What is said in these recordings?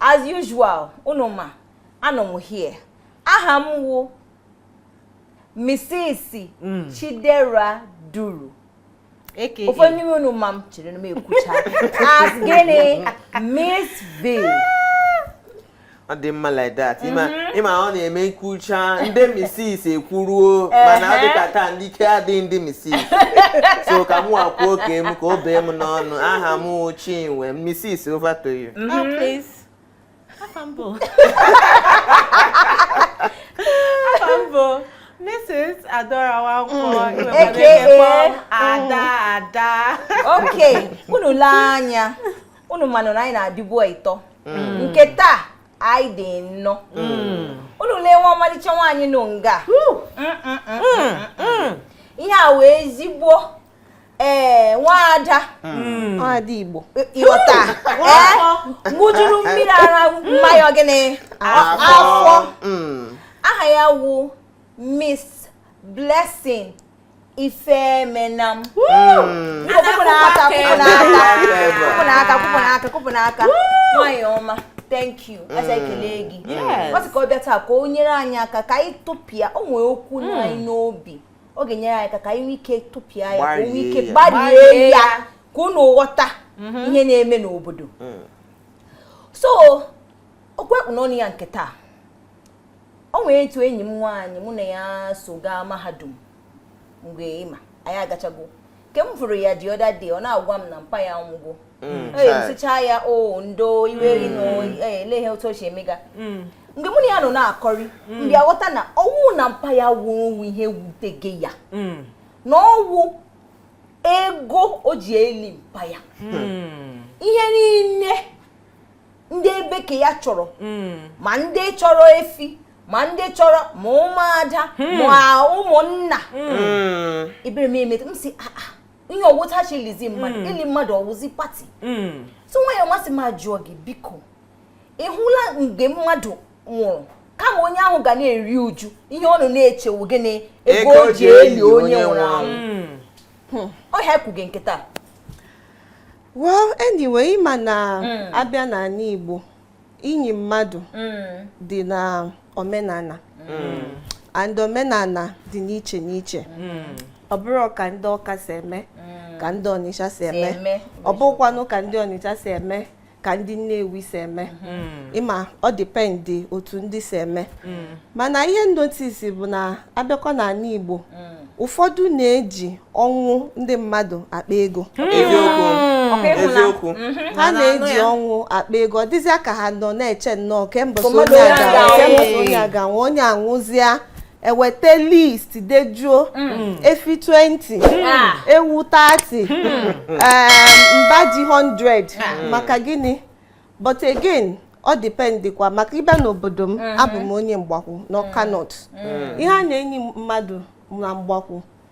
as usual unu ma anọ m here aha m wụ Mrs. Mm. Chidera Duru ụfọdụ n'ime unu ma m chere na m ekwucha as gịnị Miss V ọ dị mma like that ịma mhm. ọ na-eme m kwuchaa ndị Mrs. ekwuruo mana ọ dịka taa ndị ike adịghị ndị Mrs. so ka mụ kwuo nke m ka o bee m n'ọnụ aha m wụ Chinwe Mrs. over to you Oh, please. Afa m bụ. Afa m bụ Mrs. Adaora Nwankwọ. Iwe AKA. Madeke kpọọ m Ada Ada. Okay, unu lee anya. Unu manụ na anyị na-adịbu ịtọ. Nke taa anyị dị ịnọ unu lewe ọmalịcha nwaanyị nọ nga ihe a wụ ezigbo ee nwaada nwaada Igbo ị ghọta ee ṅụjuru mmiri ara mma ya gịnị afọ aha ya wụ Miss Blessing Ifemenam hmm. nwanyị ọma thank you hmm. anyị ekele gị ọ sị ka ọ bịa taa ka o nyere anyị aka ka anyị tụpịa o nwee okwu nọ anyị n'obi ọ ga-enyere anyị aka ka anyị nwee ike tụpịa ya ka e nwee ike gbarie ya ka unu ghọta mhm. ihe na-eme n'obodo so okwu e kpu n'ọnụ ya nke taa o nwere etu enyi m nwaanyị mụ na ya so gaa mahadum mgbe ịma anyị agachago ke m fụrụ ya the other day ọ na-agwa m na mpa ya nwụgo m sịchaa ya o ndo iwe ri na mm. e, ele ihe otu o si emega mm. mgbe mụ na ya nọ na-akọrị m bịa ghọta na ọ wụghị na mpa ya nwụrụ wụ ihe wutege ya na ọ wụ ego o ji eli mpa ya ihe niile ndị ebe ke ya chọrọ hmm. ma ndị chọrọ efi ma ndị chọrọ ma ụmụada hmm. ma ụmụnna hmm. ebere m emeta m sị ah, ah, ihe ọ wụ otu e ji elizi mmadụ ili mmadụ ọ wụzi party so nwanyị ọma sị m jụọ gị biko ị hụla mgbe mmadụ nwụrụ kama onye ahụ ga na-eri uju ihe ọ nọ na-eche wụ gịnị ego o ji eli onye nwụrụ anwụ ọ ihe a kwuge nke taa well anyway ịma na mm. a bịa n'ana Igbo inyi mmadụ mm. dị na omenana mm. and omenana dị n'iche n'iche ọ bụrọ ka ndị Ọka si eme ka ndị ọnịcha si eme ọ bụkwanụ ka ndị ọnịcha si eme ka ndị nnewi si eme ịma ọ depend otu ndị si eme mana ihe m notice bụ na a bịakwa n'ana Igbo ụfọdụ na-eji ọnwụ ndị mmadụ akpa ego hmm. eziokwu hmm. Hmm. ha na-eji ọnwụ akpa ego ọ dịzịa ka ha nọ na-eche nnọọ kemgbe onye a ga-anwụ onye a nwụzịa e weta list dejuo efi 20 ah. ewu 30 mba ji 100 ah. maka gịnị but again ọ dependikwa maka ị bịa n'obodo m abụ m onye Mgbakwu n'Ọka North ihe a na-enyi mmadụ na Mgbakwu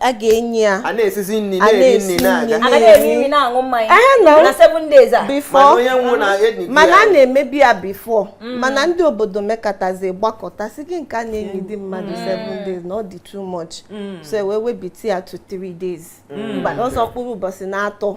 a ga-enyi ya a na-esizi nri A na-eri na-esi nri na-aga nri. a na-eri nri na-aṅụ mmanya Ee, na- na seven days a mana before onye nwụ na-enyi mana a na-emebu ya before mana ndị obodo mekatazi gbakọta sị gị nke a na-enyi di mmadụ 7 days na ọ dị too much so e wee webite ya to 3 days bụ sọ mkpụrụ ụbọchị na-atọ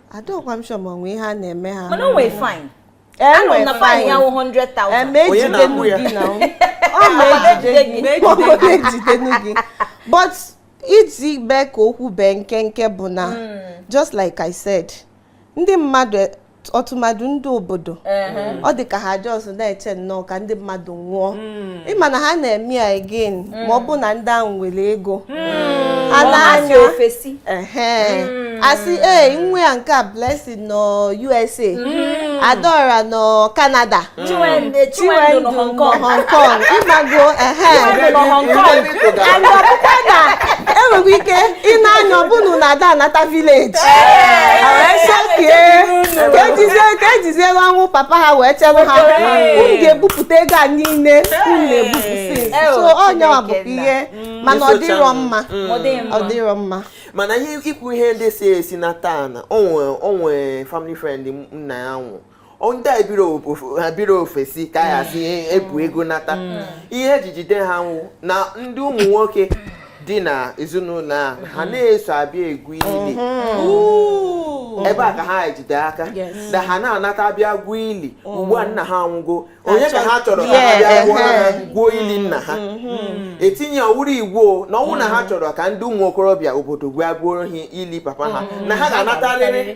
adịrọkwa m sure ma o nwe ihe a na-eme ha mana o nwere fine anọ na fine ya wụ 100,000 eme Onye ejide na-akwụ ya? gị na ọ ma ejide gị Ejide gị. ọ ma ejide gị but iji mee ka okwu bee nkenke bụ na just like I said ndị mmadụ e- ọtụmadụ ndị obodo ọ dị ka ha just na-eche nnọọ ka ndị mmadụ nwụọ ị ma na ha na-eme ya again mm. ma ọ bụ na ndị ahụ nwere ego mm. ha na-anya ofesi mm. a sị ee nwa ya nke a Blessing nọ USA Adaora nọ Canada Chinwendu nọ Hong Kong ị mago and ọ bụkwa na e nwekwa ike ịna anya ọ bụnụ na ada anata village ka e jiziere ọnwụ papa ha wee chere ha unu ga-ebupụta ego a niile unu na-ebupụsị so onye ọ bụ ihe mana ọ dịrọ mma ọ dịrọ mma mana ihe i kwu ihe ndị si ofesi nata na o nwe family friend nna ya nwụ ndị a ebirọ ofesi ka ya si ebu ego nata mm. ihe e ji jide ha wụ na ndị ụmụ nwoke dị na ezinụlọ a ha mm-hmm. na-eso abịa egwu ili mm-hmm. ebe a ka ha jide aka na ha na-anata abịa gwuo ili mm-hmm. ugbu a nna ha anwụgo onye ka ha chọrọ ka ha bịa gwuo ili nna ha etinye ọ wụrụ iwu na ọ wụrụ na ha chọrọ ka ndị ụmụ okorobịa obodo bịa gwuoro ha ili papa ha na ha ga-anatarịrị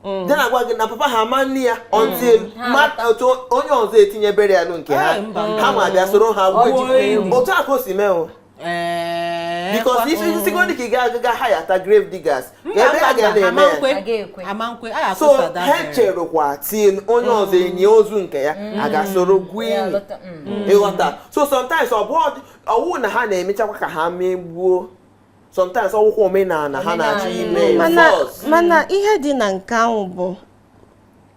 Mm. dị na-agwa gị na papa ha ama enyi ya mm. until mata otu onye ọzọ etinye burial nke ha ha ma bịa soro ha gwuo otu a ka o si mee o eh, because isi mm. sikodi ka ị ga-aga ga hireta grave diggers ebe a ga na-eme ya so ha cherụkwa till onye ọzọ enyi ozu nke ya ha aga soro gwuo ili ị ghọta so sometimes ọ bụ ọ wụ na ha na-emechakwa ka ha megbuo sometimes ọ wụkwa omenala ha na-achọ ime mana ihe dị na nke ahụ bụ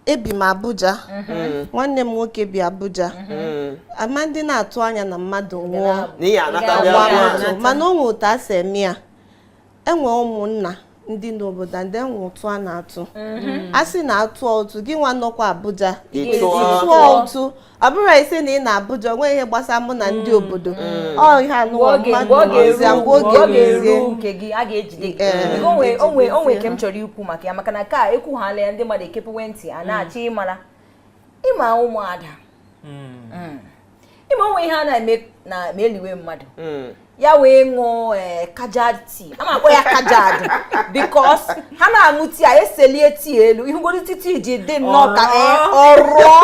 ebi m Abuja mm-hmm. nwanne m nwoke bi Abuja mm-hmm. ama ndị na-atụ anya na mmadụ nwụọ mana o nwe otu a si eme ya e nwe ụmụnna ndị n'obodo and e nwe ụtụ a na-atụ mm-hmm. a sị na a tụọ ụtụ gịnwa nọkwa Abuja tụọ ụtụ ọ bụrụ ị sị na ị nọ Abuja o nwe ihe gbasara mụ na ndị mm. obodo mm. ọ ihe anụwa mmadụ ọzọ mgbe oge ga-eruzie nke gị a ga-ejide gị eh. o nwe o nwe nke m chọrọ ikwu maka ya maka na a ka ekwughala ya ndị mmadụ ekepewe ntị a mm. na-achọ ịmara ị ma ụmụada ị ma o nwe ihe a na-eme na ma e liwe mmadụ ya wee ṅụọ ee eh, kajad tea a na-akpọ ya kajad because ha na-aṅụ tea a eselie tea elu ị hụgoro tea tea ji dị nnọọ ka ọ rọọ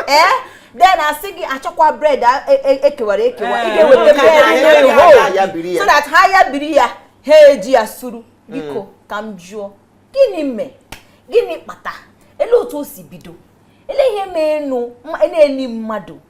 eh, ee eh, then a sị gị a chọkwa bread e kewara e, e ekewa ị ga-eweta bread so that ha ya biri ya ha eji ya suru biko mm. ka m jụọ gịnị mee gịnị kpata elee otu o si bido elee ihe mee nụ na-eli mmadụ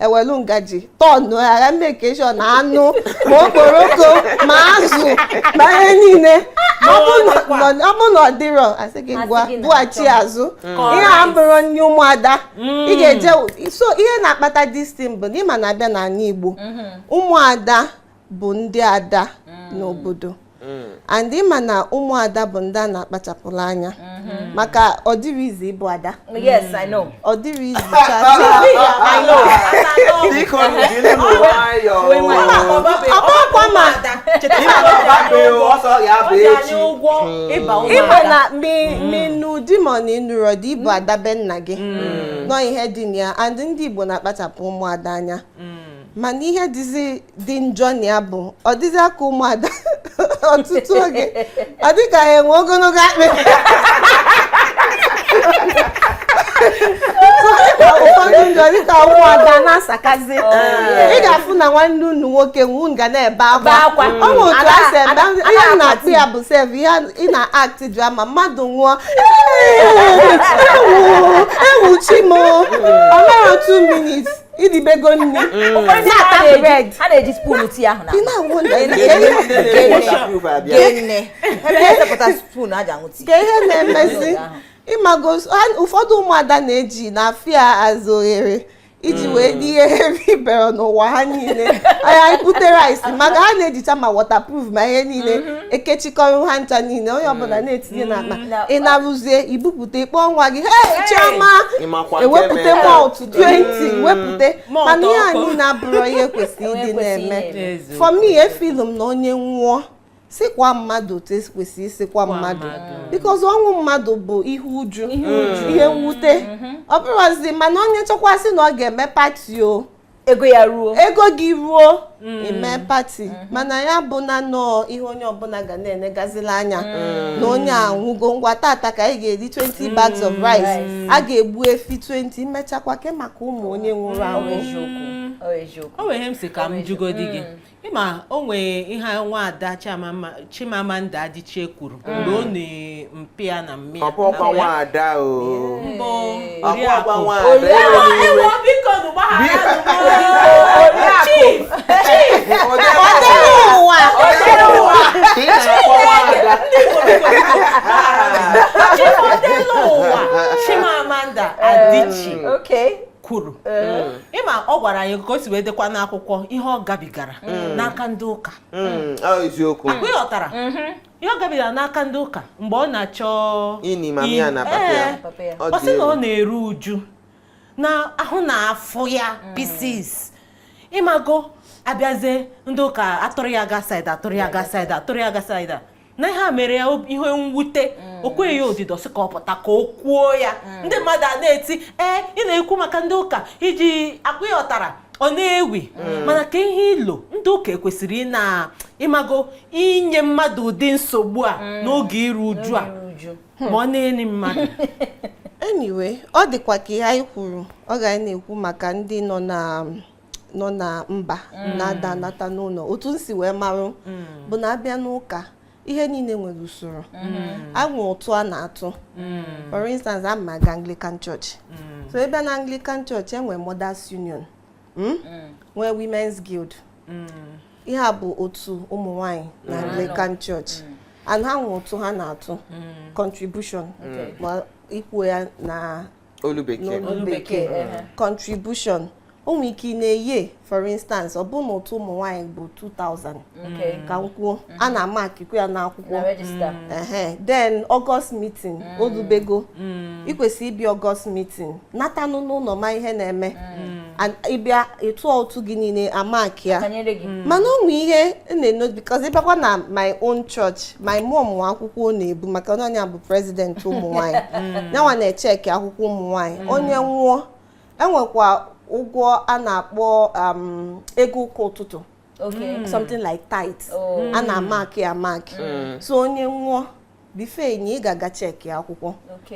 e welu ngaji tọnụ agha make sure na anụ ma okporoko ma azụ ma ihe niile ọ bụ na ọ dịrọ a sị gị ngwa bughachi azụ ihe a abụrọ nri ụmụada mm. ị ga-eje so ihe na-akpata distin bụ na ị ma na a bịa n'ala Igbo mm-hmm. ụmụada bụ ndị ada mm. n'obodo mm. and ị ma na ụmụada bụ ndị a na-akpachapụrụ anya mm-hmm. maka ọ dịrọ easy ịbụ ada yes I know ọ dịrọ easy ị ma na ma ị nụ di ma ọ na ị nụrọ di ị bụ ada be nna gị mm. na ọ ihe dị na ya and ndị Igbo na-akpachapụ ụmụada anya mana ihe dịzi dị njọ na ya bụ ọ dịzi ka ụmụada ọtụtụ oge ọ dịka ha enwe ogologo akpịrị ụfọdụ ndị ọ dịka ụmụada na-asakazi oh, ị ga-afụ na nwanne unu nwoke nwụ ga na-ebe akwa ọ bụ otu a si ebe ihe a na-akpọ ya bụ sef ihe ị na-act drama mmadụ nwụọ ewu ewu chi m ọ ma ru 2 minutes i dibego nne a na-eji spoon tea ahụ ka ihe na-emezi ị mago ụfọdụ ụmụada na-eji na afia azụ oghere iji wee rie ihe eribero n'ụwa ha niile anya ikpute rice maka ha na-ejicha ma waterproof ma ihe niile ekechikọrọ ha ncha niile onye ọbụla na-etinye n'akpa ị na-eruzie i bupụta ị kpọọ nwa gị hey Chioma ewepụta moto 20 wepụta mana ihe anyị na-abụrụ ihe kwesịrị ịdị na-eme for me efilu m na onye nwụọ sikwa mmadụ otu e si kwesị isikwa mmadụ because ọnwụ mmadụ bụ ihe uju ihe mwute mm-hmm. ọ bụrụzi mana onye chọkwa sị na ọ ga-eme pati o ego ya ruo ego gị ruo Mm. eme pati mm-hmm. mana ya abụna nọọ ihe onye ọbụla ga na-enegazila anya mm. na onye a anwụgo ngwa tata ka anyị ga-eri 20 mm. bags of rice a ga-egbu efi 20 imechakwa kee maka ụmụ onye nwụrụ anwụ o nwere ihe m si ka m jụgodi gị ị ma o nwee ihe nwaada Chiamamma Chimamanda Adichie kwuru mm. mgbe ọ na mpa ya na mma ya ọ bụ ọkwa nwaada o mbụ oriakụ Chimamanda Adichie mm. kwuru ịma ọ gwara anyị ka o si wee dekwa n'akwụkwọ ihe ọ gabigara n'aka ndị ụka Mm, ọ eziokwu akwa ịghọtara ihe ọ gabigara n'aka ndị ụka mgbe ọ na-achọ Ini ma mịa na papa ya. Ee, Papa ya. Ọ ọ sị dị na ọ egwu. na-eru uju na ahụ na-afụ ya pieces ịmago abịazie ndị ụka atụrụ ya ga saịda atụrụ ya ga saịda atụrụ ya ga saịda na ihe a mere ya ihe mwute mm. o kweghị ya odido sị ka ọ pụta ka o kwuo ya mm. ndị mmadụ a na-eti ee ị na-ekwu maka ndị ụka iji ọkwa ị ghọtara ọ na-ewi mm. mana ka ihe ilo ndị ụka ekwesịrị ị na ị mago inye mmadụ ụdị nsogbu a n'oge iru uju a ma ọ na-eni mmadụ anyway ọ dịkwa ka ihe anyị kwuru ọ ga na-ekwu maka ndị nọ na nọ na mba mm. na-ada anata n'ụlọ otu m si wee marụ mm. bụ na a bịa n'ụka ihe niile nwere usoro mm. e nwee ụtụ a na-atụ for instance ana m aga Anglican Church so a bịa na Anglican Church e nwere Mothers Union hmm? nwee Women's Guild ihe a bụ otu ụmụ nwanyị na Anglican Church and ha nwee ụtụ ha na-atụ contribution ikwu ya na olu bekee n'olu bekee contribution o nwere ike na-eye for instance ọ bụ na ụtụ ụmụ nwaanyị bụ 2000 ka m kwuo a na-amakikwa ya n'akwụkwọ mm. then August meeting mm. o lubego mm. i kwesị ịbịa August meeting natanụ n'ụlọ ma ihe na-eme ị bịa ị tụọ ụtụ gị niile amaki ya hmm. mana o nwere ihe na-emenụ because ị bịakwa na my own church my mom nwe akwụkwọ ọ na-ebu maka na ọ ya bụ president ụmụ nwanyị hmm. yanwa na-echeki akwụkwọ ụmụ nwanyị hmm. onye nwụọ e nwekwa ụgwọ a na-akpọ um, ego ụka ụtụtụ something like tithe oh. a na-amaki amaki so onye nwụọ before e nie ị ga-aga cheki akwụkwọ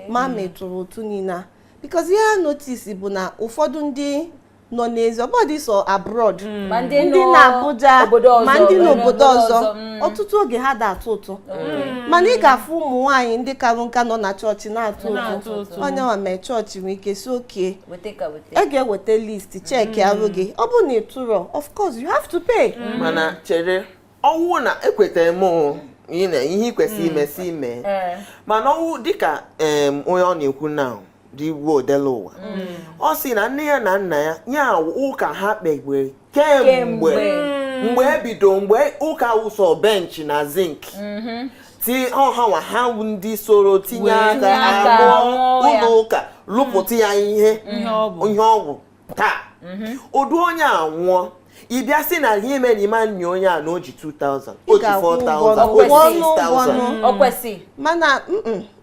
ma ma ị tụrụ ụtụ niile because ihe a notice bụ na ụfọdụ ndị nọ n'ezi ọ bụrọdị sọ abroad mm. ndị nọ Abuja ma ndị n'obodo ọzọ mm. ọtụtụ oge ha da atụ ụtụ mana ị ga-afụ ụmụ nwaanyị ndị karụ nka nọ na chọọchị na-atụ ụtụ onye nwa mee chọọchị nwee ike sị okay e ga-eweta list chekịarụ gị ọ bụ na ị tụrọ of course you have to pay mana chere ọ wụ na ekwetara m ihe ị kwesịrị ime si ime mana ọ wụ dịka onye ọ na-ekwu na dị igwe odela ụwa ọ sị na nne ya na nna ya nye ụka ha kpewere kemgbe mgbe e bido mgbe ụka wụ sọ bench na zinc mhm. ti ọ hanwa ha ndị soro tinye aka lụọ ụlọ ụka lụpụta ya ihe ihe ọ wụ taa mhm. ụdị onye a nwụọ ị bịa sị na ihe mere na ị ma eni onye a na o ji 2000 o ji 4000 o ji 6000 o kwesị mana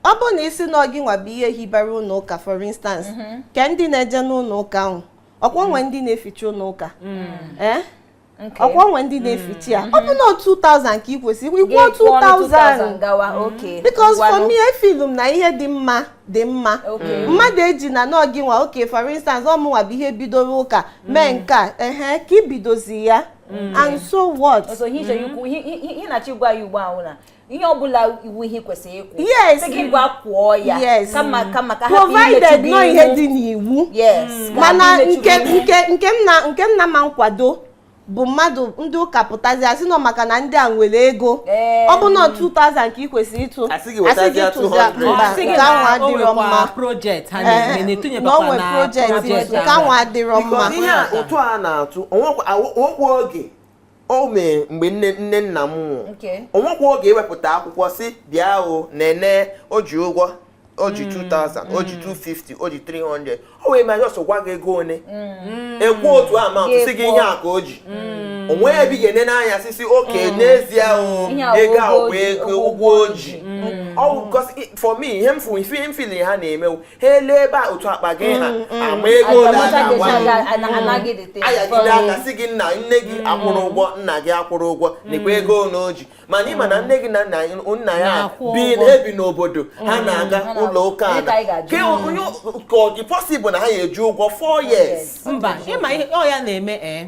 ọ bụrụ na ị sị na ọ gịnwa bụ ihe hibara ụlọ ụka for instance mhm. kee ndị na-eje n'ụlọ ụka ahụ ọ kwa o nwe mhm. ndị na-eficha ụlọ ụka mhm. eh? ọ kwa o nwe ndị na-eficha ya ọ bụ na 2000 ka ị kwesịrị ị kwụọ 2000 because for me efeel m na ihe dị mma dị mma mmadụ eji na na ọ gịnwa okay for instance ọ mụnwa bụ ihe bidoro ụka mee mm. nke a ehe ka i bidozi ya Mm. and so what ihe na-achọ ịgwa ya ugbu a wụ na ihe ọbụla wụ ihe kwesịrị ịkwụ yes gị gaa kwụọ ya yes kama kama ka ha provided na ọ ihe dị n'iwu yes mm. mana nke nke nke m na nke m na-ama nkwado bụ mmadụ ndị ụka pụtazi asị na ọ maka na ndị a nwere ego ọ bụ na 2000 ka ị kwesịrị ịtụ asị gị tụzia mba nke ahụ adịrọ mma na o nwe project nke ahụ adịrọ mma ihe ụtụ a na-atụ o nwekwa oge o mee mgbe nne nne nna m nwụrụ o nwekwa oge e wepụta akwụkwọ sị bịa o nene o ji ụgwọ o ji 2000 mm. o ji 250 mm. o ji 300 o nwee ma just gwa gị ego one mm. e kwuo otu amount sị gị ihe a ka o ji o nwee ebe ị ga-ene anya sị sị okay n'ezie ego a wụ ego ụgwọ o ji for me ihe m fụ ihe m feel ha na-eme wụ ha elebe otu akpa gị ha mm, mm. ama ego ole a ga-agwa mm. ayagide aka sị gị nna nne gị akwụrụ ụgwọ nna gị akwụrụ ụgwọ nekwa ego ole o ji mana ị ma na nne gị na nna ya ebi n'obodo ha na-aga ụlọ ụka ada ka ọ dị possible na ha ya eji ụgwọ 4 years mba ị ma ọ ya na-eme ee eh?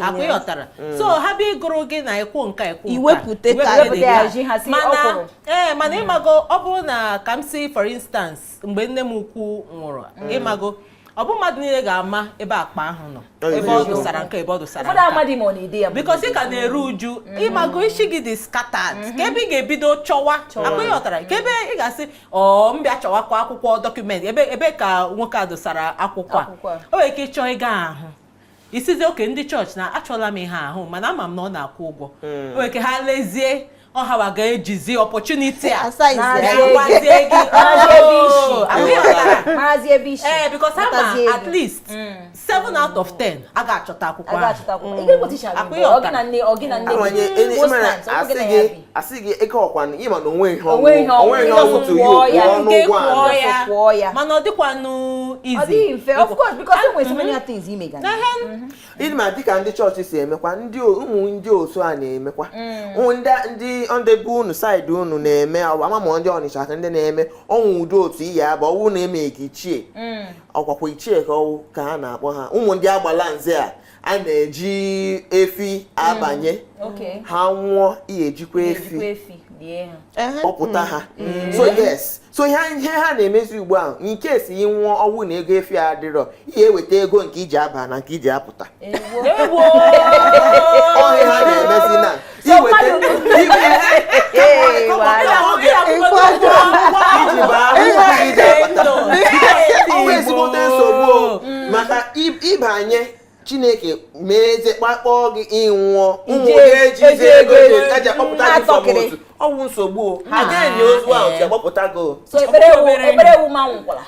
akwa ịghọtara mm. so ha bịa ịgụrụ gị na ịkwụ nka ịkwụ iwepụta kaadị eh, mana mm. ịmago ọ bụrụ na ka m si for instance mgbe nne m ukwu nwụrụ mm. ịmago ọ bụ mmadụ niile ga-ama ebe akpa ahụ nọ ebe o dosara nka ebe o dosara nka because ị ka na-eru uju mm-hmm. ịmago isi gị dị scattered mm-hmm. ka ebe ị ga-ebido chọwa akwa ịghọtara ka ebe ị ga-asị m bịa chọwakwa akwụkwọ document ebe ka nwoke a dosara akwụkwọ a o nwere ike ịchọ ị ga-ahụ ị sịzi okay ndị chọọchị na achọla m ihe ahụ mana ama m na ọ na-akwụ ụgwọ hmm. o nwere ike ha lezie ọ hawa ga-ejizi opportunity a ee because ama at least 7 hmm. out of 10 a ga-achọta akwụkwọ ahụ hmm. a sị gị ego ọkwa na ịma na onwe ihe Onwe ihe ọnwụ onwe ihe ọnwụ to you kwụọ ya, kwụọ nke n'ụgwọ kwụọ anyị ya. kwụọ ya. mana ọ dịkwanụ easy ọ dịghị mfe of course because e nwere so many other things ime ga na ịma dịka ndị chọọchị si emekwa ndị o- ụmụ ndị otu a na-emekwa ụmụ ndị ndị ndị be unu saịdị unu na-eme ọ bụ ama ma ndị Ọnịcha ka ndị na-eme ọnwụ ụdị otu ị ya-aba ọ wụ na e mee gị ichie ọkwakwa ichie ka ọ wụ ka ha na-akpọ ha ụmụ ndị Agbalanze a a na-eji efi abanye mm, ha nwụọ ị ya-ejikwa efi kpọpụta ha mm. so yes so ihe ha na-emezi ugbu ahụ nke si ị nwụọ ọnwụ na ego efi adịrọ ị ya-eweta ego nke iji aba na nke iji apụta ọ ihe ha na-emezi na maka ịbanye Chineke meezie ka akpọọ gị ị nwụọ ụmụ ga-ejizi ego eji akpọpụta gị from otu ọ wụ nsogbu a ga-enye ozu ahụ ji agbapụta gị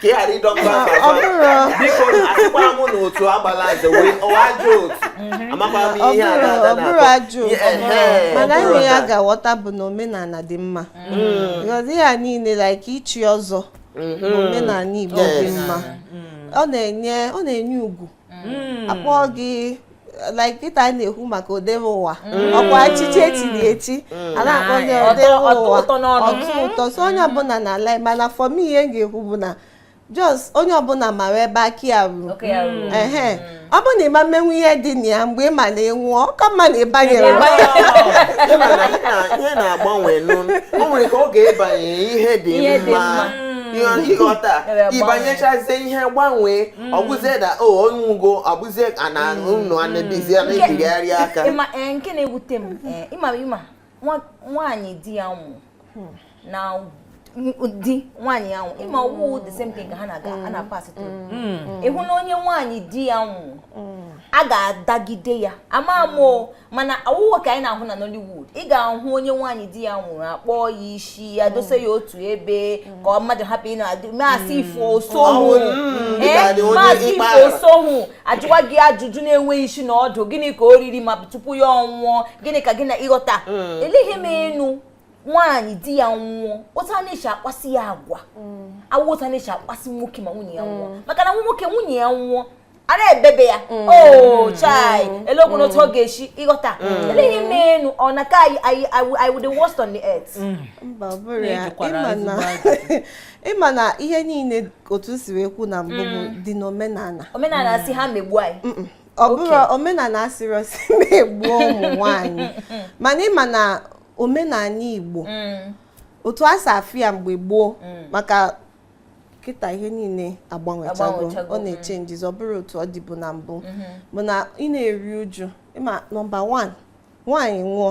ka ị ghara ịdọgba ọ bụrụ biko asịkwara m na otu Agbalanze wee ọ wụ ajọ otu mhm. amakwara m ihe a na-ada na ọ bụrụ ajọ mana ihe ya ga-aghọta bụ na omenala dị mma because ihe a niile like ichi ọzọ mhm. omenala Igbo dị mma ọ na-enye ọ na-enye ugwu hmm. akpọọ gị like kịta a na-ekwu maka odebe ụwa hmm. ọkwa echichi e chiri echi hmm. a na-akpọ gị odebe ụwa ọ tọ ụtọ so onye ọbụla na-alike mana for me ihe m ga-ekwu bụ na just onye ọbụla mara ebe aka ya ruru ehe ọ bụ na ị ma-emenwu ihe dị na ya mgbe ị ma na ị nwụọ ọ ka mma na ịbanyere ihe na-agbanwe o nwere ka ị ga-abanye ihe dị mma ịghọta ịbanyechazie ihe gbanwee Mm. ọ bụzie na o onye ugo ọ bụzie a na mm. unu a na-ebizi a na-ebigharị aka eh, nke na-ewute m eh, ị ma ị ma nwaanyị di ya nwụ hmm. na di nwaanyị ya nwụ ị ma ọ wụ the same thing ka ha na-aga a na-apass through hmm. ị hụ na onye nwaanyị di ya nwụ hmm. a ga-adagide ya ama m mana ọ wụwa ka anyị na-ahụ na Nollywood ị ga-ahụ onye nwaanyị di ya nwụrụ a kpụọ ya isi ya mm. dose ya otu ebe ka ọ mmadụ hapụ ị na-adị maasị mm. ifo osohu maasị ifo osohu a jụwa gị ajụjụ na-enweghị isi na ọdụ gịnị ka o riri ma tupu ya anwụọ gịnị ka gị na ị ghọta mm. ele ihe menụ nwaanyị di ya nwụọ otu a na-eji akpasị ya agwa awụ otu a na-eji akpasị nwoke ma nwunye ya nwụọ maka na nwoke nwunye ya nwụọ a na-ebebe ya mm. oo oh, chai mm. elekwanụ otu ọ mm. ga-esi ị ghọta ele ihe menụ ọ dị ka ị wụ the worst on the earth mba ọ bụrọ ya ị ma na ihe niile otu si wee kwu na mbụ bụ dị n'omenala omenala sị ha megbu anyị ọ bụrọ omenala asịrọ sị megbuo ụmụ nwaanyị mana ị ma na omenala Igbo otu a si afụ ya mgbe gboo maka kịta ihe niile agbanwechago ọ na-echenjizi mm. ọ bụrọ otu ọ dịbu na mbụ mm-hmm. bụ na ị na-eri uju ị ma nọmba 1 nwaanyị nwụọ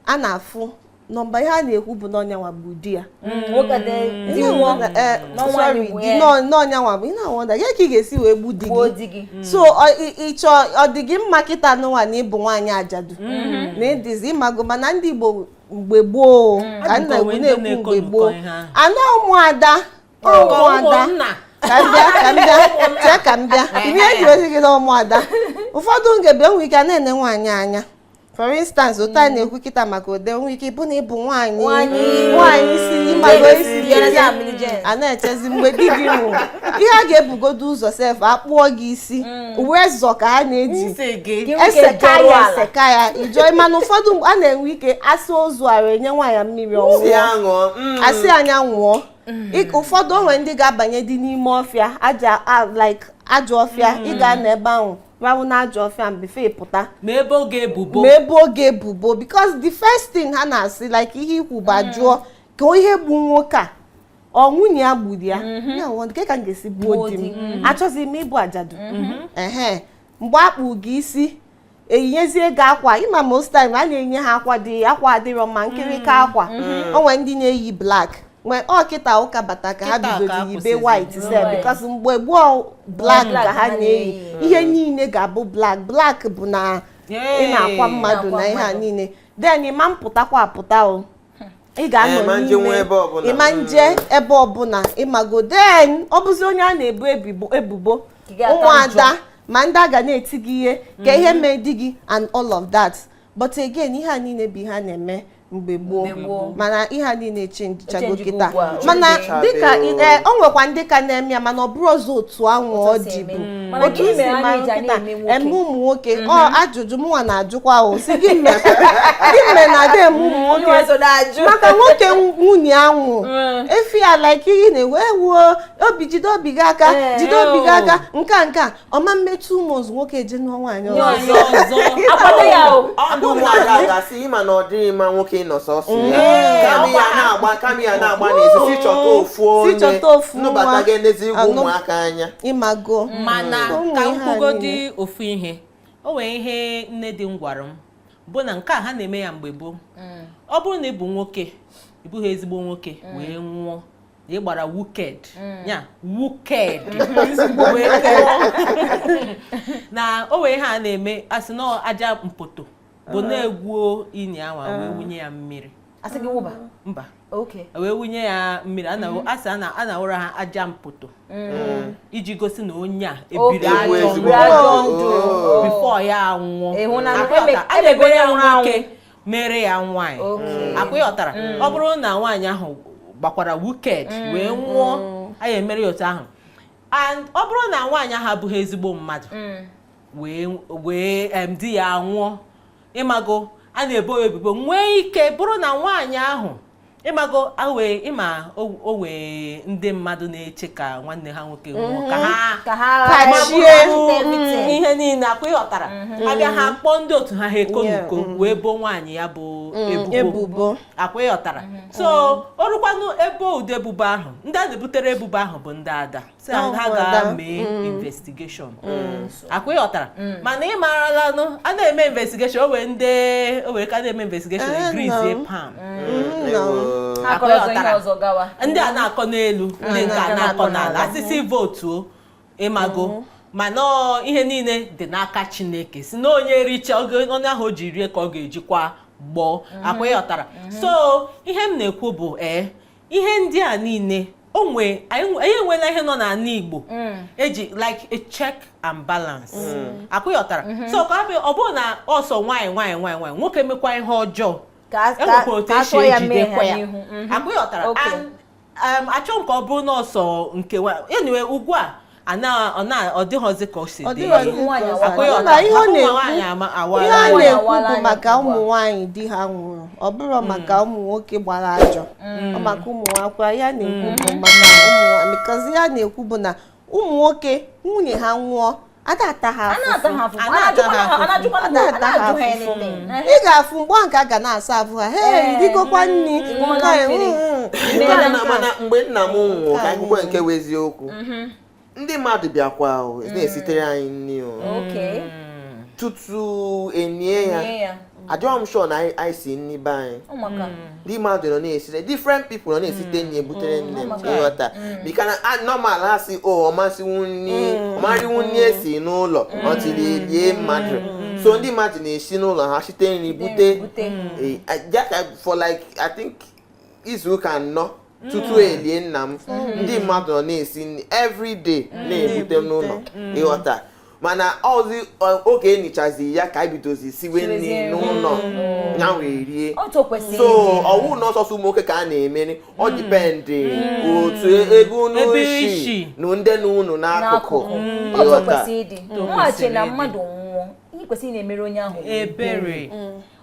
a na-afụ nọmba ihe a na-ekwu bụ na ọ nyanwa gbu di ya na ọ nyanwa gbu ị na-awonder ya ka ị ga-esi wee gbu di gị mm. so ị chọ ọ dị gị mma kịta n'ụwa na ị bụ nwaanyị ajadu mm-hmm. na ị dịzi ị mago mana ndị Igbo mgbe gboo mm. ka nna wee na-ekwu mgbe gboo ana ụmụada ụmụada ka m bịa ka m bịa chee ka m bịa ihe e ji wee sị gị na ụmụada ụfọdụ ngebe enwe ike a na-ene nwaanyị anya for instance otu anyị mm. na-ekwu kịta maka ode nwe ike ịbụ na ị bụ nwaanyị nwaanyị si ị mago isi a na-echezi mgbe di gị nwụrụ ihe a ga-ebugodo ụzọ sef a kpụọ gị isi mm. ọ razor ka a na-eji eseka ya eseka ya ịjọ mana ụfọdụ a na-enwe ike a saa ozu arụ e nye nwaanyị mmiri ọ ṅụọ mm. a sị na ya ṅụọ mm. ụfọdụ o nwe ndị ga-abanyedị n'ime ọfịa aja like ajọ ọfịa ị mm. ga-anọ ebe ahụ rahụ na ajọ ọfịa before ị pụta ma e boo gị ebubo ma e boo gị ebubo because the first thing ha na-asị like ihe i kwu bụ a jụọ ka ihe gbu nwoke a ọ nwunye ya gburu ya mhm. ya wọ kee ka m ga-esi gbuo di m achọghịzi m ịbụ ajadu mhm. ehe mgbe a kpụ gị isi e yinyezie gị akwa ị ma most time a na-enye ha akwa dị akwa adịrọ mma nkịrịka mm. akwa mhm. o nwere ndị na-eyi black nwee ọ kịta ụka bata ka ha bidoro yibe white sef because mgbe gboo black ka ha na-eyi ihe niile ga-abụ black black bụ na ị na-akwa mmadụ na ihe a niile then ị ma-apụtakwa apụta o ị ga-anọ eh, n'ime ị ma nje ebe ọbụla ịmago then ọ bụzi onye a na-ebu ebubo ụmụada ma ndị a ga na-eti gị ihe ka ihe mhm. mee di gị and all of that but again ihe a niile bụ ihe a na-eme mgbe gboo mana ihe a niile chenjichago kịta mana dịka eh, o nwekwa ndị ka na-eme ya mana ọ bụrọzi otu anwụ ọ dịbu otu i si mara kịta eme ụmụ nwoke ọ mm-hmm. ajụjụ mụnwa na-ajụkwa o sị gịnị mere na a dị eme ụmụ mm-hmm. nwoke maka nwoke nwunye anwụ mm. efi ya like ihe na-ewe ewuo obi jide obi gị aka eh, jide obi gị oh. aka nke nke ọma e mee two months nwoke eje nụọ nwaanyị ọzọ ịma na ọ dịghị mma nwoke ịnọ sọsọ mm. kama ya na-agba kama ya na-agba n'ezi sị chọta ofu onye nụbata ga-enezi ụmụaka anya ịmago mana So, ụmụ ka m ihe a kwugodi niile. ofu ihe o nwere ihe nne di m gwara m bụ na nke a ha na-eme ya mgbe gboo ọ bụrụ na ị bụ nwoke ị bụghị ezigbo nwoke wee nwụọ na ị gbara wicked ya wicked wee nwụọ. na o nwee ihe a na-eme asị na aja mpoto bụ na e gwuo ini anwa wee wunye ya mmiri asị gị wụba mba wee wunye ya mmiri mm-hmm. asị a na-awụra ha aja mpoto mm-hmm. iji gosi na onye a ebiri ajọ ndụ oh. before ya anwụọ a na-emere ya nwoke mere ya nwaanyị akwa ịghọtara mm. ọ bụrụ na nwaanyị ahụ gbakwara wicked mm. wee nwụọ mm. a ya emere ya otu ahụ and ọ bụrụ na nwaanyị ahụ abụghị ezigbo mmadụ wee di ya anwụọ ịmago a na-ebo ya ebubo nwee ike bụrụ na nwaanyị ahụ ịmago awee ịma o- o nwee ndị mmadụ na-eche ka nwanne ha nwoke nwụọ ka ha ka ha kachie ghara mm, ihe niile akwa ịghọtara abịa ha kpọọ ndị otu ha ha eko Yeah, n'uko wee boo nwaanyị ya bụ ebubo ebubo akwa ịghọtara so o rukwanụ ebe ụdị ebubo ahụ ndị a na-ebutere ebubo ahụ bụ ndị ada si na ha ga-eme mm. investigation mm. mm. akwa ịghọtara mana ị maaralanụ a na-eme investigation o nwee ndị o nwere ka a na-eme investigation eh, e greasie palm ndị a na-akọ n'elu ndị nke a na-akọ n'ala asịzị vootuo ịmago mana ihe niile dị n'aka Chineke si na onye richa ọnụ ahụ o ji rie ka ọ ga-ejikwa gbọọ akwa ịghọtara so ihe m na-ekwu bụ ee eh, ihe ndị a niile onwe anyị enweela ihe nọ n'ala Igbo mm. eji like a check and balance mm. akwa ịghọtara mm-hmm. so ka ọ bụrụ na ọ sọ nwaanyị nwaanyị nwaanyị nwoke mekwa ihe ọjọọ enwekwa otu esi ejidekwa ya mm-hmm. akwa ịghọtara um, achọ m ka ọ bụrụ na ọ sọ nke nwaanyị enwe ugbu a ọ dịghịzi ka o si dị ihe a na-ekwu bụ maka ụmụ nwaanyị di ha nwụrụ ọ bụrụ mm. maka ụmụ nwoke gbara ajọ mm. ọ maka ụmụ nwakwara ihe a na-ekwu bụ mm. maka ụmụ nwaanyị ihe a na-ekwu bụ na ụmụ nwoke nwunye ha nwụọ a da-ata ha afụfụ ị ga-afụ mgbe ahụ ka a ga na-asa afụ ha he i rigokwa nri mgbe nna m nwụrụ ka e kwukwa nke bụ eziokwu mm-hmm. ndị mmadụ bịakwa mm. na-esitere anyị nri o mm. tutu e nie ya adịghị m sure na anyị si nri be anyị ndị mmadụ nọ na-esite different people nọ na-esite nri ebutere nne m ị ghọta bikos na normal ha sị o oh, ọ ma siwu nri ọ ma riwu nri e si n'ụlọ until e lie mmadụ so ndị mmadụ na-esi n'ụlọ ha site nri bute eh, eh, for like i think izu ụka anọ tutu e lie nna m ndị mmadụ nọ na-esi nri everyday na-ebute n'ụlọ ị ghọta mana ọ zi ọ- oge e nichazi ya ka anyị bidozi siwe nri Siwezie nri. n'ụlọ ya wee rie otu o kwesịrị so ịdị. ọ wụ na ọ sọsọ ụmụ nwoke ka a na-emere ọ dipendị otu ebe unu Ebe i si si. na ndị nọ unu n'akụkụ n'akụkụ Mm. otu o ị ghọta kwesịrị ịdị Otu o mụghachi na kwesịrị ịdị. mmadụ nwụọ ihe e kwesịrị ị na-emere onye ahụ bụ ebere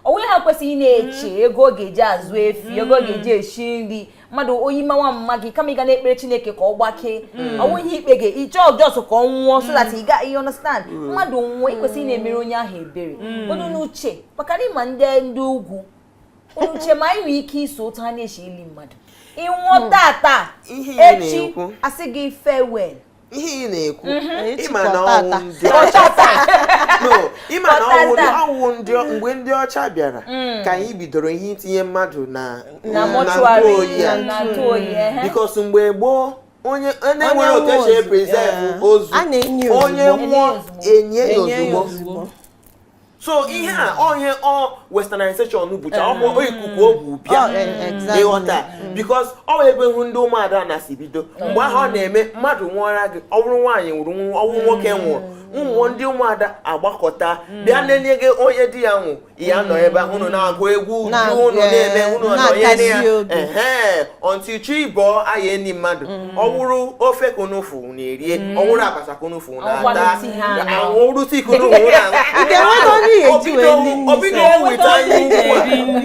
onye ahụ kwesịrị ị na-eche mm. ego ọ ga-eji azụ efi ego ọ mm. ga-eji esi nri mmadụ oyi mawa mma gị kama ị ga na-ekpere chineke ka ọ gbakee mm. ọ wụ ihe ikpe gị ịchọ jos ka ọ nwụọ so that ị ga you understand mmadụ nwụọ ị kwesịrị ị na-emere onye ahụ ebere ọ dị n'uche maka na ị ma ndị ndị ugwu uche m anyị nwere ike iso otu ha na-esi eli mmadụ ị nwụọ tata echi a sị gị farewell ihe ị na-ekwu mhm. ị ma na ọ wụ ndị ọcha ị ma na ọ wụ mgbe ndị ọcha bịara mm. ka anyị bidoro ihe itinye mmadụ na ntụ oyi ya bikos mgbe gboo onye nwere otu e si eprezevụ ozu onye nwụọ e nie ya ozugbo so ihe a ọ ihe ọ westernization bụcha ọ bụ ikuku o bu bịa Oh, eh, exactly. ị ghọta bikos ọ wụ ebe ahụ ndị ụmụada a na-esi bido mgbe ahụ ọ na-eme mmadụ nwụọra gị ọ bụrụ nwaanyị nwụrụ nwa- ọ wụrụ nwoke nwụrụ ụmụ ndị ụmụada agbakọta bịa nọnye gị onye di ya nwụ ya nọ ebe ahụ unu na-agụ egwu uju Na- unu na-eme eh, unu na-akasi nọnyere ya obi. ehe until chi bọọ a ya-eni mmadụ ọ wụrụ ofe ka unu fụ unu erie mm. ọ wụrụ abacha ka unu fụ unu ata ọ wụrụ tii ka unu hụ na o bidohụ weta anya ukwu a mm.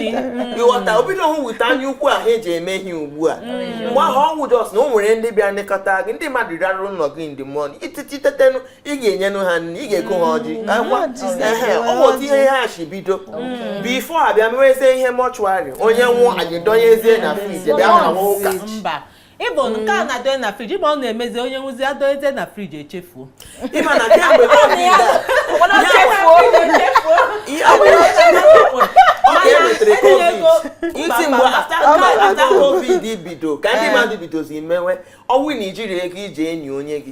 ị ghọta o bidohụ weta anya ukwu ahụ e ji eme ihe ugbu a mm. mgbe ahụ ọ wụ jos na o nwere ndị bịa nlekọta gị ndị mmadụ rahara ụlọ gị ndị mmụọ ụtụtụ tetenụ ị ga-enyenụ ha nri ị ga-eche ha ọjị ọ bụ otu ihe ha si bido bifo a bịa mewezie ihe mọchụarị onye nwụọ anyị dọnyezie na friji bịa hawa ụka ịbụ mm. nke a na-adọnye na friji ma ọ na-emezi onye nwụzi adọnyezie na friji echefuo ịma na kemgbe iti mgbe after covid bido ka ndị mmadụ bidozi mewe ọ wụ na ijirọ ego iji eni onye gị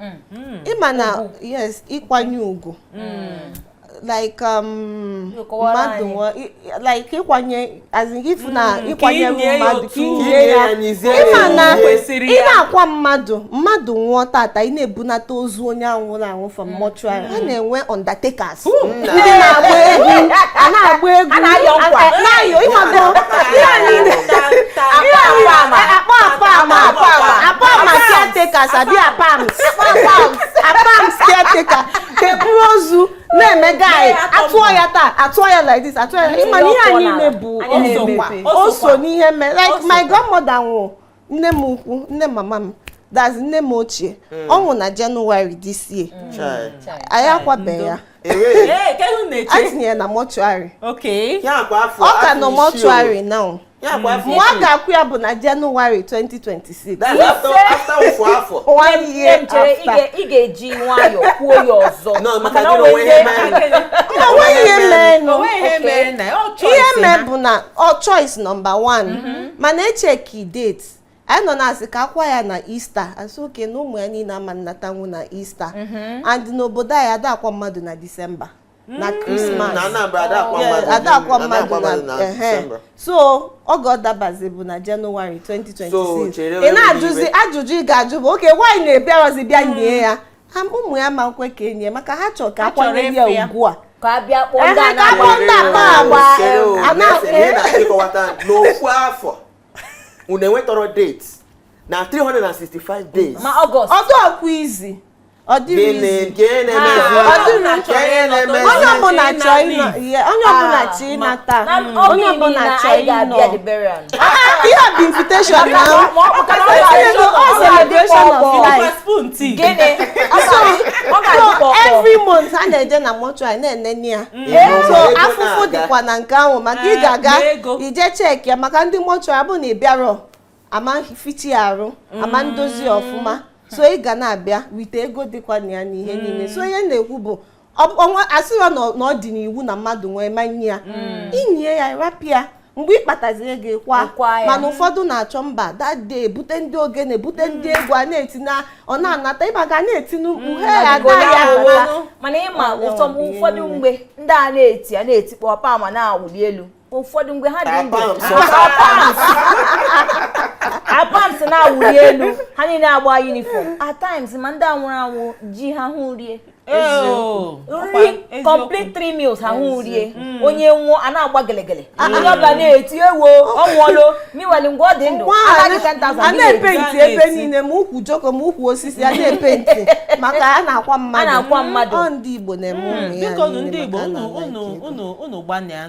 mm-hmm. ịma na yes ịkwanye ugwu mm. like um, mmadụ like ịkwanye as in ifu na hmm, ịkwanye mmadụ ka inie ya ịma na ị na-akwa mmadụ mmadụ nwụọ tata ị na-ebunata ozu onye a nwụrụ anwụ from hmm. mortuary a hmm. na-enwe undertakers ndị na-agba egwu a na-agba egwu a na-ayọ nkwa na-ayọ ịmago ihe a niile apa apam apam apam caretakers abi apams apams caretaker eburu ozu na-eme guy atụọ ya taa atụọ ya like this atụọ ya ịma na ihe a niile bụ o so n'ihe mere like my grandmother nwụrụ nne m ukwu nne mama m that's nne m ochie hmm. ọ nwụ na January this year anyị akwabeghị ya a tinyere na mortuary ọ ka nọ mortuary now nwa a ga-akwa ya bụ na January 2026 one year after ị ga-eji nwayọọ kwuo ya ọzọ maka na o nwe ihe mee ihe mee bụ na ọ choice number one mm-hmm. mana echek date anyị nọ na-asị ka akwa ya na Easter a sị okay na ụmụ ya niile ama nnatanwu na Easter mhm. and n'obodo anyị ada akwa mmadụ na December na mm. Christmas ada akwa mmadụ na so oge ọ dabazi bụ na January 2026 ị na-ajụzi ajụjụ ị ga-ajụ bụ okay why na a bịarọzi bịa nie ya ụmụ ya ama nkwe ka e nie maka ha chọrọ ka akwanyere ya ugwu a ka a bịa kpọọ ndị a na-akpọ ndị akpa agba n'ofu afọ unu enwetarọ date na 365 days ma August ọ dịrọkwa easy ọ dịrọ easy nke na-emezi onye ọbụla chọọ ịnata onye ọbụla chọọ ịnọ ihe a bụ invitation na celebration of life so every month a na-eje na mortuary na-enene ya mm. so afụfụ dịkwa na nke ahụ maka ị eh, ga-aga ije cheki ya maka ndị mortuary abụ na ị bịarọ ama ficha ya arụ ama mm. ndozi ọfụma so ị ga na-abịa wite ego dịkwa na ya n'ihe niile so ihe na-ekwu bụ asịrọ na ọ dị n'iwu na mmadụ nwụọ ama nie ya mm. inie ya rapụ ya mgbe ị kpatazie ego ị kwa mana ụfọdụ na-achọ mba that day bute ndị ogene bute mm. ndị egwu a na-eti na ọ na-anata ịba ga na-eti mkpu mm. ha agaghị mana ịma ụfọdụ mgbe ndị a na-eti a na-etikpọ ọpa ma na-awụli elu ụfọdụ mgbe ha dị ndụ apams na-awụli elu ha niile agba uniform at times ma ndị a nwụrụ anwụ ji ahụhụ rie nri complete three meals ha hụ rie mm. onye nwụọ a na-agba gelegele ah, onye ọbụla na-eti ewo ọ nwụọlo meanwhile mgbe ọ dị ndụ a na-epenti ebe niile ma ukwu joko ma ukwu osisi a na-epenti maka a na-akwa mmadụ ọ ndị Igbo na-eme ụmụ ya ndị Igbo unu gbanịa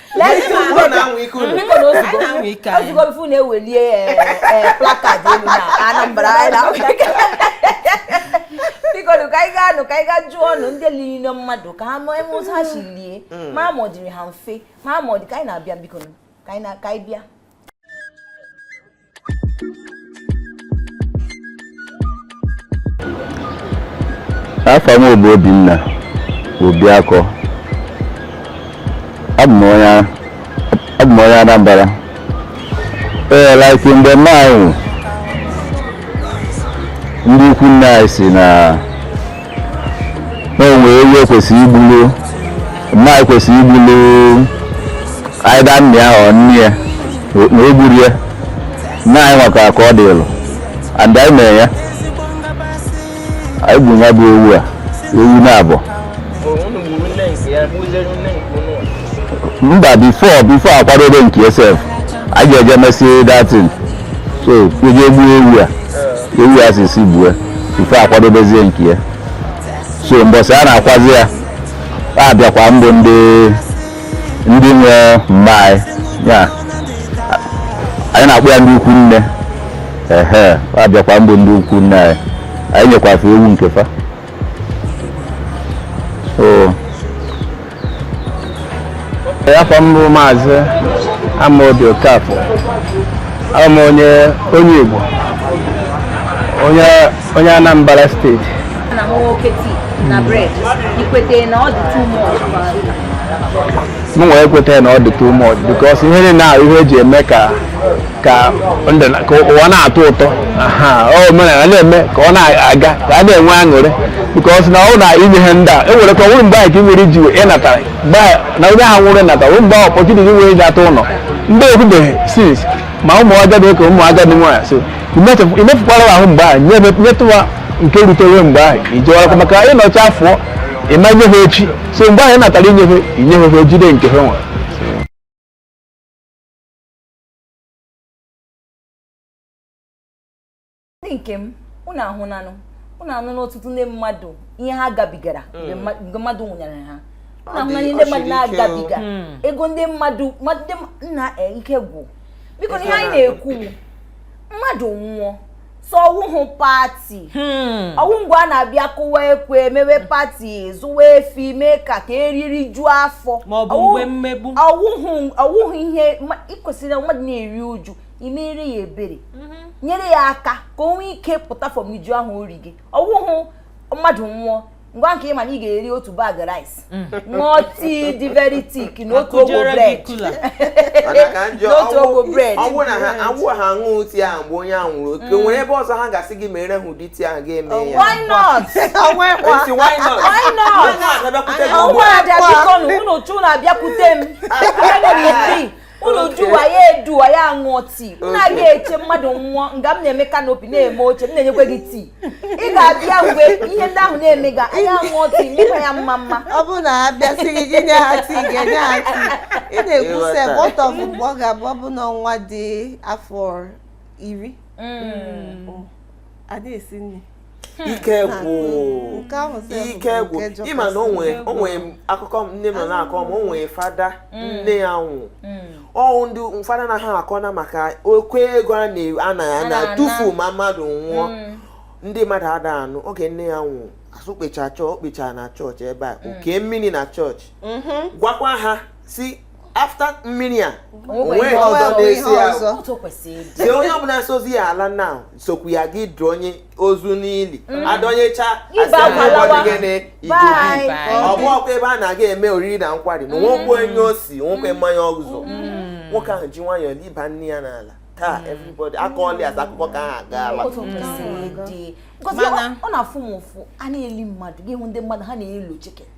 ozugbo before na-ewelie eh, eh, placard elu na Anambra bikonu ka anyị ga-anụ ka anyị gaa jụọ ọnụ ndị lili mmadụ ka ha ma eme ụzọ ha si lie mara ma ọ dịrị ha mfe mara ma ọ dị ka anyị na-abịa bikonu ka anyị bịa afa m bụ Obinna Obiakọ abụ m onye Anambra ee like mgbe mma anyị nwụrụ ndị ikwu nne anyị sị na na o nwe ewu e kwesịrị igbulu mma e kwesịrị igbulu either nna ya or nne ya na o gburu ya nna anyị nwakara ka ọ dị ịlụ and anyị mere ya anyị gburu ya bụ ewu a ewu naabọ mba before before a kwadobe nke ya sef anyị ga-eje mesị that thing so e jee gbuo ewu a ewu a si si gbue before a kwadobezie nke ya so mbọsị a na-akwazi ya a bịakwa mbụ ndị ndị nwe mma anyị ya anyị na-akpọ ya ndị ikwu nne ehe a bịakwa mbụ ndị ikwu nne anyị anyị nyekwa fa ewu nke fa so aha m bụ maazị Amaobi Okafor abụ m onye onye Igbo onye onye Anambra steeti m nwere ekweta na ọ dị too much because ihe niile ahụ ihe e ji eme ka ka ndụ na- ka ụwa na-atọ ụtọ aha ọ omenala na-eme ka ọ na-aga ka a na-enwe aṅụrị because na ọ na inye ihe ndị a e nwere ka ọ nwere mgbe ahụ ka ị nwere iji wee ịnatara mgbe ahụ na onye ahụ nwere natara nwere mgbe ahụ opportunity gị nwere iji atọ ụlọ ndị ekwubeghị since ma ụmụ agadi ka ụmụ agadi nwaanyị so imetụ- imefukwara ha ahụ mgbe ahụ nye- nyetụ ha nke rutere mgbe ahụ ijewarakwa maka ịnọcha afọ ịma nye ha echi so mgbe ahụ ị natara inye ha inye ha ha jide nke ha nwere ndị nke m unu ahụnanụ unu anụna ọtụtụ ndị mmadụ ihe ha gabigara mgbe mma- mgbe mmadụ nwụnyere ha unu Ọ ahụna dị- ihe ọ ndị mmadụ siri ike o. na-agabiga Mm. ego ndị mmadụ mmadụ ndị m- nna e, ike gwụ biko na ihe anyị na-ekwu mmadụ nwụọ so ọ wụhụ pati hmm. ọ wụ mgbe a na-abịa kụwa ekwe mewe pati zụwa efi mee ka ka e rie rijuo afọ ọ wụhụ ihe i kwesịrị na mmadụ na-eri uju i meere ya ebere mm-hmm. nyere ya aka ka o nwee ike pụta from uju ahụ o rige ọ wụhụ mmadụ nwụọ ngwa nke ị ma na ị ga-eri otu bag rice mm. ṅụọ tii dị very thick na otu ogbe bread n'otu ogbe bread ọ bụrụ na ha aṅụ ha ṅụọ tii ahụ mgbe onye ahụ nwụrụ oke mm. nwere ebe ọzọ ha ga-asị gị meere ha ụdị tii ahụ ị ga-eme ya why not why not unu abịakwute m unu jụwa ya eduwa ya aṅụọ tii unu ga-eche mmadụ nwụọ nga m na-eme kanopi na-eme oche m na-enyekwa gị tii ị ga-abịa mgbe ihe ndị ahụ na-emega anyị aṅụọ tii mekwa ya mma mma ọ bụrụ na ha bịa sị gị gị nye ha tii ị ga-enye ha tii ị na-ekwu sef ọtọ bụ mgbe ọ ga-abụ ọ bụ na nwa dị afọ iri mm. mm. anaghị esi nri Hmm. ike gwụ hmm. ike gwụ ị ma na o nwe akụkọ nne m na-akọ na o nwe fada hmm. nne ya nwụ ọ wụ ndị fada na ha akọ na maka oke ego a na- a na-atufu ma mmadụ nwụọ ndị mmadụ ada anụ oge nne ya nwụ asụ kpecha chọọ kpecha na chọọchị ebe a o kee mmiri na chọọchị mm-hmm. gwakwa ha sị after mmiri a o nwe ọzọ na-eso ya sị onye ọbụla sozi ya ala na sokwu ya gị dọnye ozu n'ili mm. adọnyecha a sị gịnị igubi ọ bụ ọkwa ebe a na-aga eme oriri na nkwari na nwokwe mm. onye ọ sị nwokwe mm. mmanya ọgụzọ nwoke ahụ ji nwayọọ liba nne ya n'ala taa hmm. everybody aka ọlị aza akụkọ ka ha agaala hmm. ọ na-afụ m ụfụ a na-eli mmadụ gị hụ ndị mmadụ ha na-eli chicken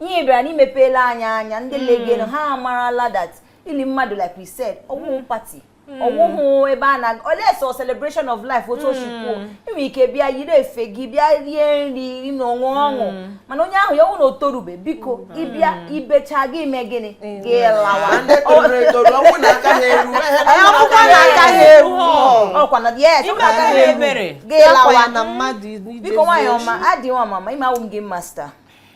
ihe bịara na i mepeela anyị anya ndị hmm. legenu ha amarala that ili mmadụ like we said ọ wụhụ hmm. pati hmm. ọ wụhụ ebe a na unless ọ celebration of life otu o si kwuo i nwe ike bịa yiri efe gị bịa rie nri ṅụọ ọṅụṅụ mana onye ahụ ya wụ na o torube biko ị bịa i becha gị mee gịnị gị lawa akwụkwọ na aka ha eru ọkwa na yes gị lawa biko nwaanyị ọma adịghị ọmama ime awụ m gị master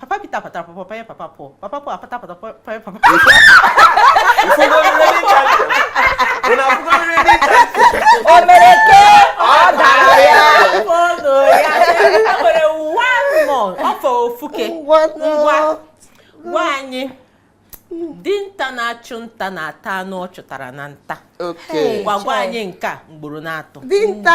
papa Peter patara pọpọ panye papa Paul papa Paul apata pata panye papa o mere ke ọ dara ya ọnụ ya e nwere one more ọ fọ ofuke ngwa gwa anyị dinta na-achụ nta na-ata anụ ọ chụtara na nta ngwa gwa anyị nke a ugboro n'atọ dinta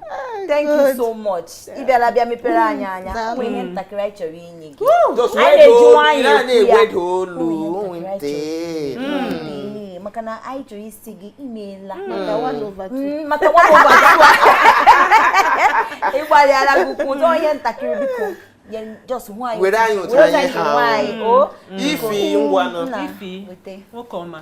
thank you so much ị bịala bịa mepere anyị anya nwere ihe ntakịrị anyị chọrọ inye gị anyị na-eji nwayọọ maka na anyị chọrọ ịsị gị imeela maka ịgbalịala gị ukwu ụzọ ihe ntakịrị biko just nwanyị were anyị otu anyị ha Ify ngwanụ Ify nwoke ọma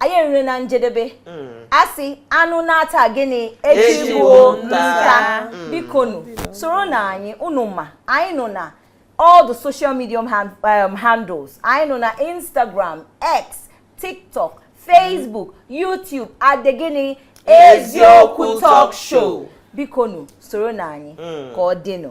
anyị erule na njedebe hmm. a sị anụ naa taa gịnị echi wụ nta hmm. bikonu soronụ anyị unu ma anyị nọ na all the social media um, handles anyị nọ na Instagram X TikTok Facebook YouTube at gịnị eziokwu talk show bikonu soronụ anyị hmm. ka ọ dịnụ